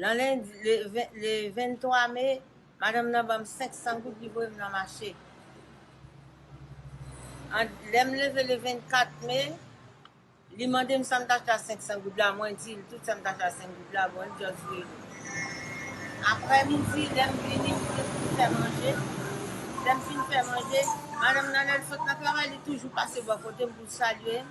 Nan lendi, le 23 me, madanm nan ban m 500 goud li voye m nan mache. Lè m leve le 24 me, li mande m sa m t achte a 500 goud la, mwen di l tout sa m t achte a 5 goud la, bon li just voye m. Aprè midi, lè m vini m te fin fè manje, lè m fin fè manje, madanm nan lè l sot nan travay li toujou pase bò kote m pou l salye m.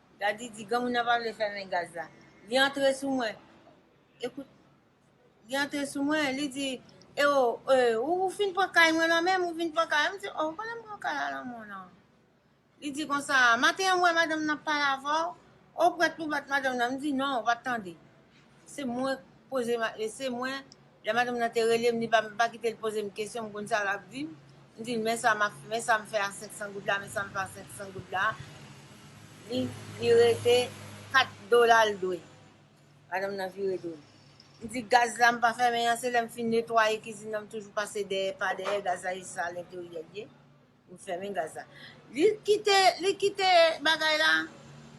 Gadi di, Granmoun nan pa vle fèmen gaz la. Li antre sou mwen. Ekout. Li antre sou mwen, li di, E o, e, ou, ou fin pran kay mwen nan menm, ou vin pran kay la. M di, Oh, konnen m pran kay la nan menw nan. Li di konsa, Maten an m wè madanm nan ap pale avè w, ou prèt pou w bat madanm nan. M di, Non, ou pa t tande. Se mwen k poze ma e se mwen Lè madanm nan te rele m li pa m pa kite l poze m kesyon m konn sa l ap di m M di l men sa m ap men sa m fè a 500 goud la men sa m fè a 500 goud la Li li rete 4 dola l dwe Madanm nan vire do l M di gaz la m pa fèmen an se lè m fin netwaye kizin nan m toujou pase dèyè pa dèyè gaz la e sal enteryè l ye Ou fèmen gaz la. Li kite li kite bagay la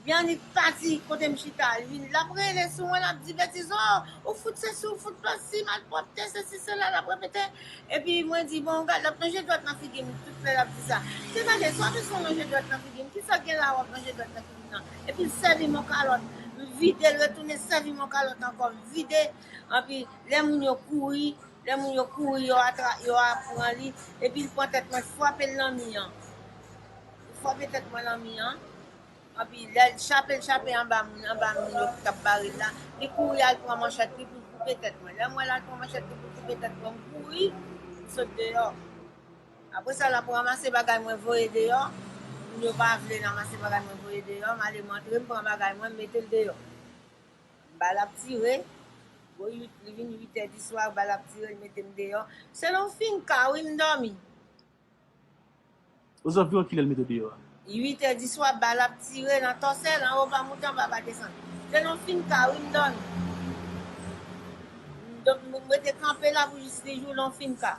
li annik pati kote m chita li lap rele sou mwen lap di betiz o ou fout sesi ou fout pasi malpwòpte sesi sela lap repete epi mwen di bon gad lap lonje dwèt nan figi m tout lè lap di sa se gade sa w bezwen lonje dwèt nan figi m kisa gen la wap lonje dwèt nan figi m nan epi l sèvi m on kalòt m vide l retounen sèvi m on kalòt ankò m vide epi lè moun yo kouri Lè moun yo kouri yo atra yo a pran li epi l pran tèt mwen frape l nan mi an li frape tèt mwen nan mi an anpi lè l chape l chape anba moun anba moun yo ki t ap bare l la li kouri al pran manchèt li pou l koupe tèt mwen lè m wè l al pran manchèt li pou l koupe tèt mwen m kouri m sot deyò apre sa l ap ranmase bagay mwen voye deyò moun yo pa vle l anmase bagay mwen voye deyò m ale m antre m pran bagay mwen m mete l deyò Bal ap tire, gwo 8, li vin 8 è di swa, bal ap tire, li mete m deyò. Se lè w fin ka wi m dòmi. Ozanviwon kilè l mete w deyò a? 8 è di swa, bal ap tire nan Tòsèl, anwo pa monte anba pa desann. Se lè w fin ka wi m dòmi. M rete kanpe la pou jis li jou lè w fin ka.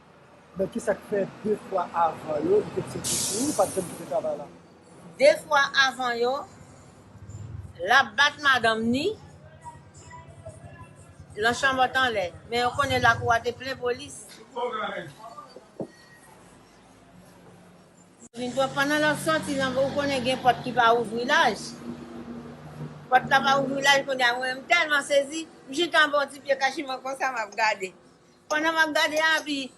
Men kisa k fè 2 fwa avan yo li te kite Kiki ou pat janm kite travay la? 2 fwa avan yo lap bat madanm ni lan chanbòt anlè men yo konnen lakou a te plen polis. Pandan lap sòti lan ou konnen gen pòt ki pa ouvri laj pòt la pa ouvri laj kounye a mwen menm m tèlman sezi m jis anba yon ti pye kachiman konsa map gade Pandan map gade abi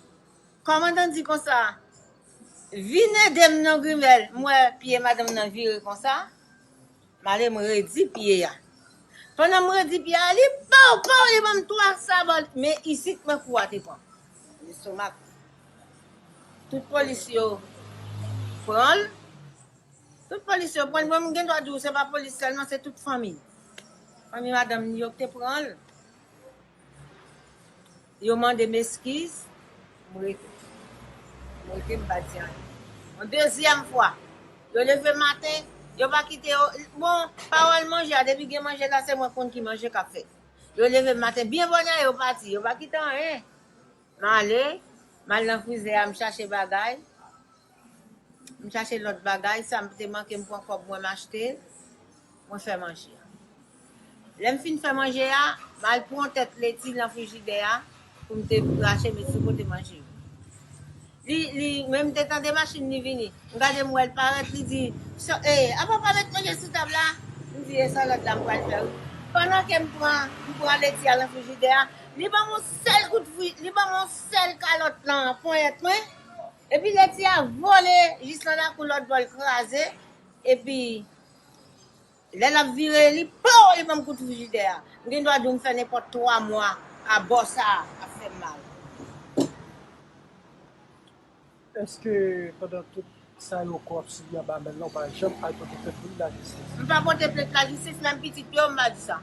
Kòmandan di konsa Vin edem non grimèl m wè pye madanm nan vire konsa m ale m redi pye a pandan m redi pye a li pow pow li banm 3 sabot men isit mwen kou a te pranm lestomak tout polis yo pranl tout polis yo pranl mwen m gen dwa diw se pa polis sèlman se tout fanmi fanmi madanm li yo ki te pranl. Yo mande m eskiz, m rete. M rete, m pa di anyen. Yon dezyèm fwa, yo leve maten, yo pa kite yo. Bon, pawòl manje a, depi gen manje la, se mwen k konn ki manje k ap fèt. Yo leve maten byen bonè, yo pati, yo pa kite anyen. M ale, m al nan frizè a, m chache bagay, m chache lòt bagay, sa m te manke m pran kòb mwen m achte, mwen fè manje. Lè m fin fè manje a, m al pran tèt leti nan frijidè a pou m te krache met sou kote manje yo. Li li men m te tande machin li vini m gade m wèl parèt li di ee apa pa met manje sou tab la m di e salad la m pral fè wi pandan ke m pran m pran leti a nan frijidè a li banm on sèl kout fri li banm on sèl kalòt nan ponyèt mwen epi leti a vole jis nan lakou lòt bò l kraze epi. Lè lap vire li pow li banm kout frijidè a. M gen dwa di w m fè nenpòt 3 mwa a bò sa ap fè m mal. Eske pandan tout sa yo kò ap sibi anba men l la ou pa janm al pote plent pou li lajistis? M pa pote plent lajistis, menm pitit yo m pa di sa.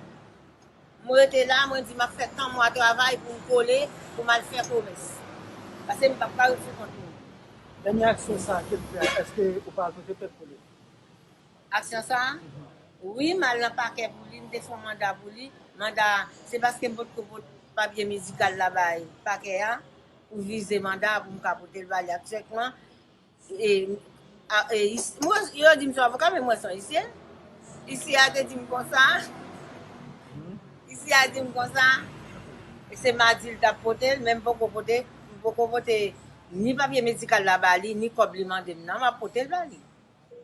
M rete la mwen di map fè tan mwa travay pou m kole pou m al fè komès. Pase m pap ka ret sou kont moun. Dènye aksyon sa ke l fè a eske ou pa al pote plent pou li? Aksyon sa a? Wi, m al nan pakè pou li, m te fè yon manda pou li. Manda a, se paske m potko pot papye medikal la bay pakè a pou vize manda a pou m ka pote l ba li aktyèkman. Yo di m son avoka men mwen son isye. Isye a te di m konsa. Isye a di m konsa. Se madi l t ap pote l men m poko pote, m poko pote ni papye medikal la ba li ni kòb li mande m nan. M ap pote l ba li.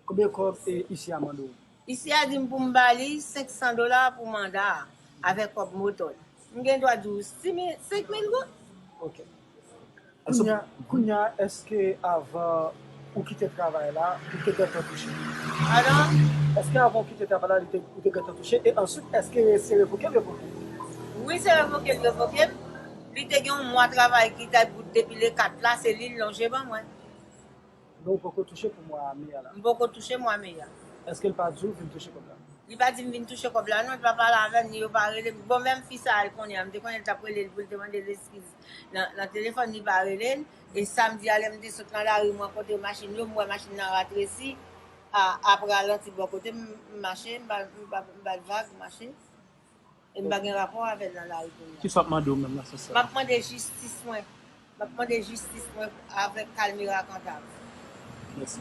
Konbyen kòb isye a mande w? Isye a di m pou m ba li 500 dola pou manda a, avèk kòb moto l. M gen dwa di w 5 mil goud. Ok. Kounya èske avan ou kite travay la, ou te gentan touche? Padon? Èske avan ou kite travay la, ou te gentan touche? E answit, èske se revoke l revoke w? Wi, se revoke l revoke m. Li te gen yon mwa travay ki te bout depi le 4 la, se li l lonje ban mwen. Non ou poko touche pou mwa me a la. M poko touche mwa me a. Eskel pa diw vin touche kob la. Li pa dim vin touche kob la non li pa pale avem ni yo pa relem bon menm fi sa al konya m te konnen li tap relel poul te mandel eskiz nan telefòn li pa relel e samdi a lèm te sot nan lari m rankontre machin yo m wè machin nan ratresi a ap ralanti bò kotem m mache m bat vag m mache. Em pa gen rapò avèl nan lari kounya. Kisa wap mande w menm nan sans sa? Map mande jistis mwen. Map mande jistis mwen avèk Kalmira Cantave. Mèsi.